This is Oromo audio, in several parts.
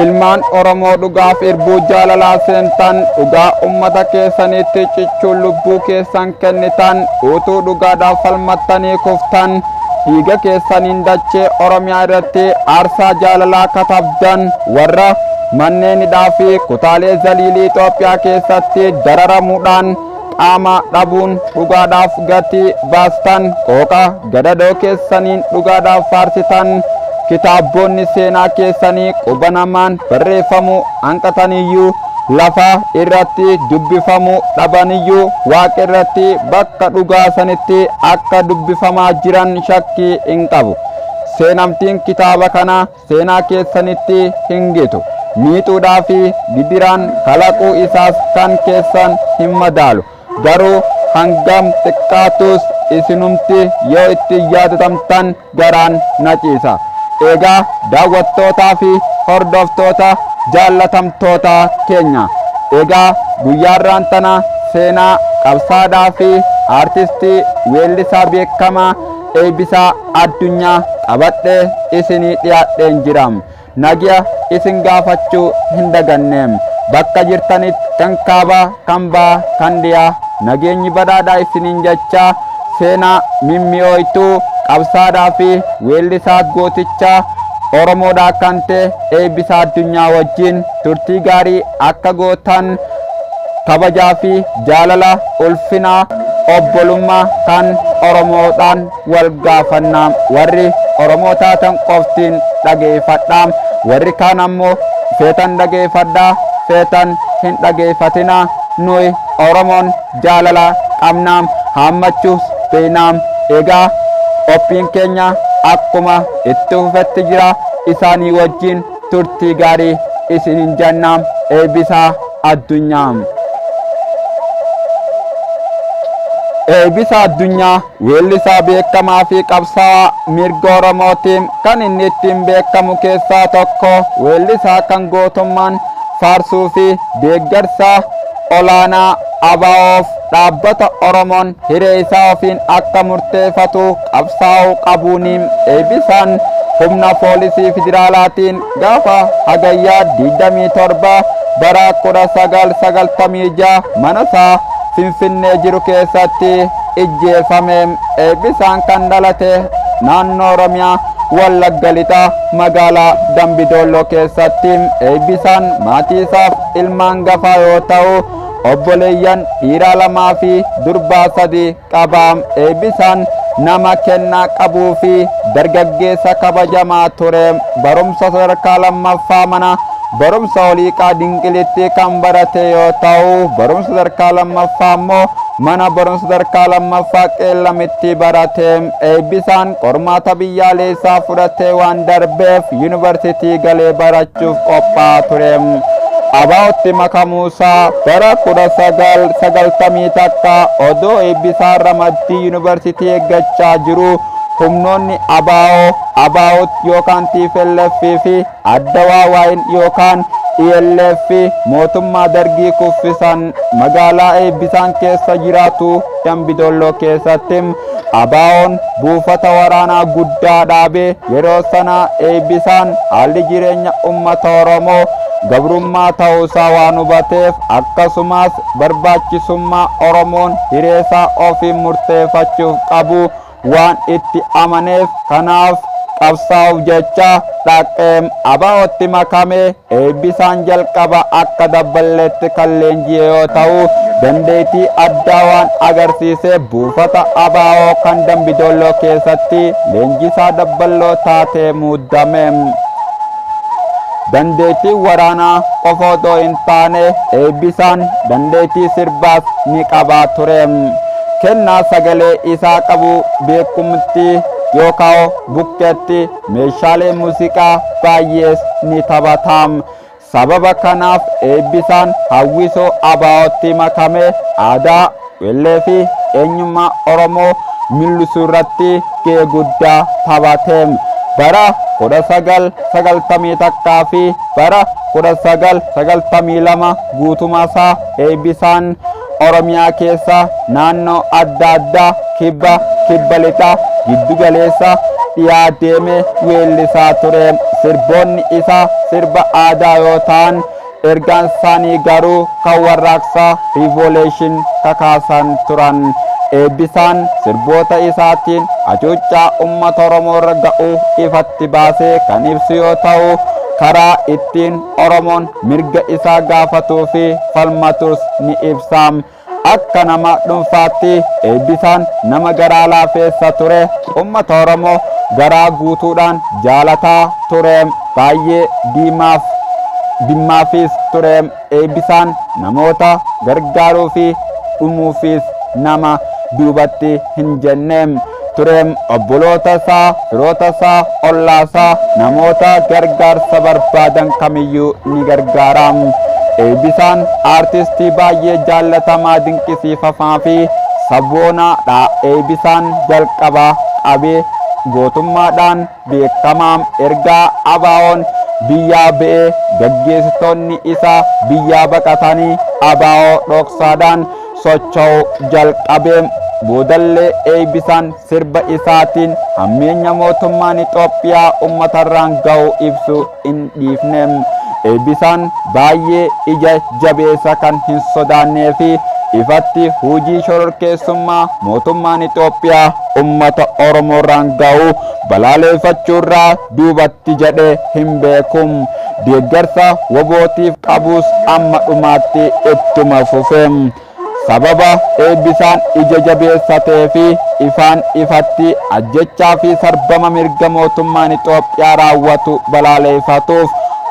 Ilmaan Oromoo dhugaaf irbuu jaalalaa seentan dhugaa ummata keessaniitti cichuun lubbuu keessan kennitan utuu dhugaadhaaf falmattanii kuftan dhiiga keessaniin dachee Oromiyaa irratti aarsaa jaalalaa katabdan warra manneenidhaa fi kutaalee zaliilii Itoophiyaa keessatti dararamuudhaan qaama dhabuun dhugaadhaaf gatii baastan qooqa gadadoo keessaniin dhugaadhaaf faarsitan kitaabboonni seenaa keessanii quba namaan barreeffamuu hanqataniyyuu lafa irratti dubbifamuu dhabaniyyuu waaqa irratti bakka dhugaa sanitti akka dubbifamaa jiran shakkii hin qabu seenamtiin kitaaba kanaa seenaa keessanitti hin gitu. Miixuudhaa fi gidiraan kalaquu isaas kan keessan hin madaalu. Garuu hangam xiqqaatus isinumti yoo itti yaadatamtan garaan na ciisa. Egaa daawwattootaa fi hordoftoota jaallatamtoota keenya. Egaa guyyaarraan tana seenaa qabsaadhaa fi aartistii weellisaa beekamaa Eebbisaa Addunyaa qabadhee isinii dhiyaadheen jira. Nagya isin gaafachuu hin daganne. Bakka jirtanitti kan kaabaa, kan bahaa, kan dhiyaa nageenyi badhaadhaa isiniin jechaa seenaa mimmi'ooytuu qabsaadhaa fi weellisaa gooticha Oromoodhaa kan ta'e Eebbisaa Addunyaa wajjin turtii gaarii akka gootan Kabajaa fi jaalala, ulfina, obbolummaa kan Oromoodhaan wal gaafanna. Warri Oromoo taatan qofti dhageefadhaa. Warri kaan ammoo feetan dhageefadhaa, feetan hin dhageefatinaa. Nuyi Oromoon jaalala qabna, haammachuus beeyna. Egaa qophiin keenya akkuma itti fufetti jira. Isaanii wajjin turtii gaarii isinin janna eebisaa addunyaa Eebisaa addunyaa weellisaa beekamaa fi qabsaa'aa mirga Oromootiin kan inni ittiin beekamu keessaa tokko weellisaa kan gootummaan faarsuu fi deeggarsaa olaanaa ABOf dhaabbata Oromoon hiree isaa ofiin akka murteefatu qabsaa'uu qabuun eebisaan humna poolisii federaalaatiin gaafa hagayyaa 27 bara 1996 mana isaa Finfinnee jiru keessatti ijjeefame eebisaan kan dhalate naannoo Oromiyaa Wallagga Lixaa magaalaa Dambi Doolloo keessatti eebisaan maatii isaaf ilma hangafaa yoo ta'u obboleeyyan dhiiraa lamaa fi durbaa sadi qaba eebbisaan nama kennaa qabuu fi dargaggeessa kabajamaa ture barumsa sadarkaa lammaffaa mana barumsa oliiqaa dinqilitti kan barate yoo ta'u barumsa sadarkaa lammaffaa immoo Mana Barumsa Sadarkaa Lammaffaa Qeellamitti barate eebbisaan qormaata biyyaaleessaa fudhatee waan darbeef Yuunivarsiitii galee barachuuf qophaa'aa ture. ABOtti makamuusaa bara 1991 odoo Eebbisaan ramaddii Yuunivarsiitii eeggachaa jiruu humnoonni ABO, ABUT yookaan tplf fi Adda Waawaayil yookaan ELF mootummaa Dargii kuffisan magaalaa Eebbisaan keessa jiraatu Dambidolloo keessatti ABOn buufata waraanaa guddaa dhaabe yeroo sana Eebbisaan haalli jireenya uummata Oromoo gabrummaa ta'uusaa waan hubateef akkasumas barbaachisummaa Oromoon hireesaa ofiin murteeffachuuf qabu waan itti amaneef kanaaf qabsaa'uuf jecha dhaqqeem ABOtti makame eebbisaan jalqaba akka dabballeetti kan leenji'e yoo ta'u dandeettii addaa waan agarsiise buufata abo kan dambidolloo keessatti leenjisaa dabballoo taatee muudame. Dandeettii waraanaa qofa otoo hin taane Eebbisaan dandeettii sirbaas ni qaba ture. Kennaa sagalee isaa qabu beekumtti yookaan bukkeetti meeshaalee muuziqaa baay'ees ni taphata. Sababa kanaaf Eebbisaan hawwisoo ABOtti makamee aadaa Qeellee fi eenyummaa Oromoo millisuu irratti gahee guddaa taphate. Bara 1991 fi bara 1992 guutumaa isaa Eebbisaan Oromiyaa keessa naannoo adda addaa kibba, kibba lixaa, giddu galeessa, dhiyaa deemee weellisaa ture. Sirboonni isaa sirba aadaa yoo ta'an Ergaan isaanii garuu kan warraaqsa, revolution, kakaasan turan. Eebbisaan sirboota isaatiin hacuuccaa ummata Oromoo irra ga'u ifatti baasee kan ibsu yoo ta'u, karaa ittiin Oromoon mirga isaa gaafatuu fi falmatus ni ibsa. Akka nama dhunfaatti Eebbisaan nama garaa laafeessa ture, ummata Oromoo garaa guutuudhaan jaalataa ture, baay'ee diimaaf dimmaafis ture. Eebbisaan namoota gargaaruufi dhumuufis nama duubatti hin jenne. ture. Obbolootasaa, firootasaa, ollaasaa, namoota gargaarsa barbaadan kamiyyuu ni gargaara. Eebbisaan aartistii baay'ee jaallatamaa dinqisiifamaa fi saboonaadha. Eebbisaan jalqabaa qabee gootummaadhaan beekamaa erga ABOn biyyaa ba'ee gaggeessitoonni isaa biyyaa baqatanii ABO dhoksaadhaan socho'uu jalqabee boodallee Eeybisaan sirba isaatiin hammeenya mootummaan Ixoophiyaa ummatarraan ga'u ibsu hin dhiifne. Eebbisaan baay'ee ija jabeessa kan hin sodaannee fi ifatti hujii shororkeessummaa mootummaan Itoophiyaa ummata Oromoorraan ga'u balaaleeffachuurraa duubatti jedhe hin beeku. Deeggarsa wobootiif qabus amma dhumaatti ittuma fufe. Sababa Eebbisaan ija jabeessa ta'ee fi ifaan ifatti ajjechaa fi sarbama mirga mootummaan Itoophiyaa raawwatu balaaleefatuuf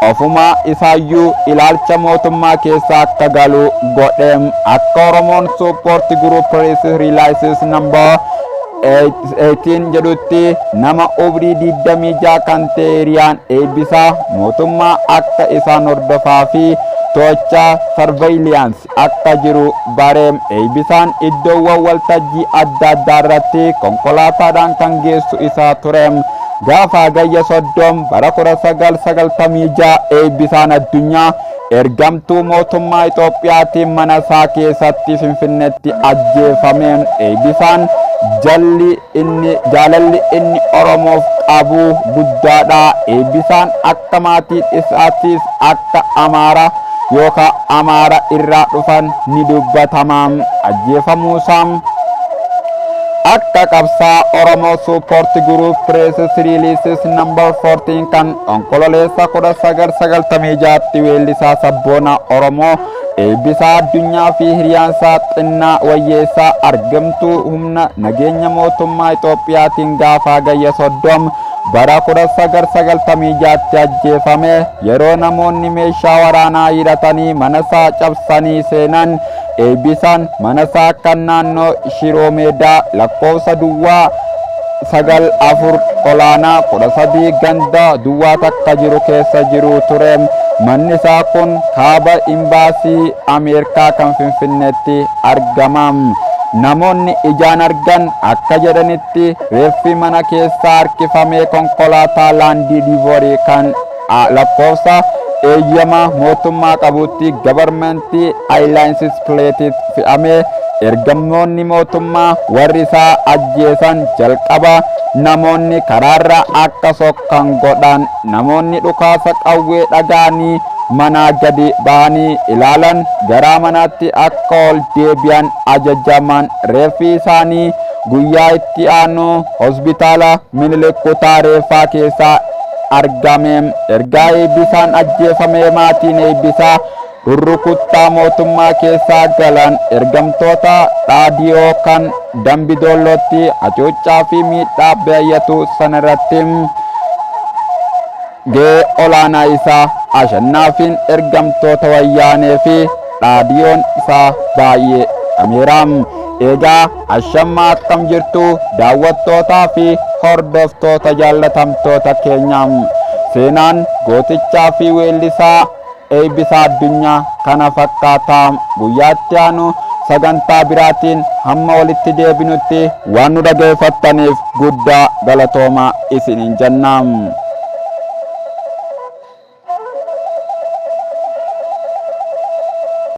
ofumaa isaayyuu ilaalcha mootummaa keessa akka galu godhe. Akka Oromoon Support Group Reese Realizes Number 18 jedhutti nama umrii 26 kan ta'e hiriyaan Eebbisaa mootummaa akka isaan hordofaa fi to'achaa surveillance Oromiyaatti akka jiru bare. Eeybisaan iddoowwan waltajjii adda addaa irratti konkolaataadhaan kan geessu isa ture. Gaafa Hagayya 30 bara 1996 Eeybisaan Addunyaa ergamtuu mootummaa Itoophiyaatiin mana isaa keessatti Finfinneetti ajjeefame. Eeybisaan jalli Inni jaalalli inni Oromoof qabu guddaadha. Eebbisaan akka maatiin isaattis akka Amaara yookaa Amaara irraa dhufan ni dubbatama. Ajjeefamuusaa akka qabsaa Oromoo Support Group Press Releases number 14 kan Onkololeessa 1996tti weellisaa sabboonaa Oromoo Eebbisaa Addunyaa fi hiriyaansaa Xinnaa Wayyeessaa argamtuu humna nageenya mootummaa Itoophiyaatiin gaafa Hagayya 30 bara 1996tti ajjeefame yeroo namoonni meeshaa waraanaa hidhatanii manasaa cabsanii seenan Eebbisaan manasaa kan naannoo Shiroo Meedaa lakkoofsa duwwaa 9, 4, olaanaa 13 ganda duwwaa takka jiru keessa jiru ture. Manni isaa kun kaaba Imbaasii Ameerkaa kan Finfinneetti argama. Namoonni ijaan argan akka jedhanitti reeffi mana keessaa harkifamee konkolaataa laandii diivoorii kan a Lakkoofsa eeyyama mootummaa qabuutti Government Airlines Plates fe'amee ergamtoonni mootummaa warri isaa ajjeesan jalqaba namoonni karaarra akka sokkan godhan namoonni dhukaasa qawwee dhaga'anii manaa gadi ba'anii ilaalan garaa manaatti akka ol deebi'an ajajaman reeffi isaanii guyyaa itti aanu hospitaala Minilik kutaa reeffaa keessaa argame ergaa eebbisaan ajjeefamee maatiin eebbisaa rurrukuttaa mootummaa keessaa galan ergamtoota dhaadiyoo kan dambi doollootti hacuuccaa fi miidhaa baay'atu sana irratti ga'ee olaanaa isaa ashannaafiin ergamtoota wayyaanee fi dhaadiyoon isaa baay'ee dhameera eegaa Ashamma akkam jirtu daawwattootaa fi hordoftoota jaallatamtoota keenya. Seenaan gootichaa fi weellisaa Eebbisaa Addunyaa kana fakkaata. Guyyaa itti aanu sagantaa biraatiin hamma walitti deebinutti waan nu dhageeffattaniif guddaa galatoomaa isiniin jenna.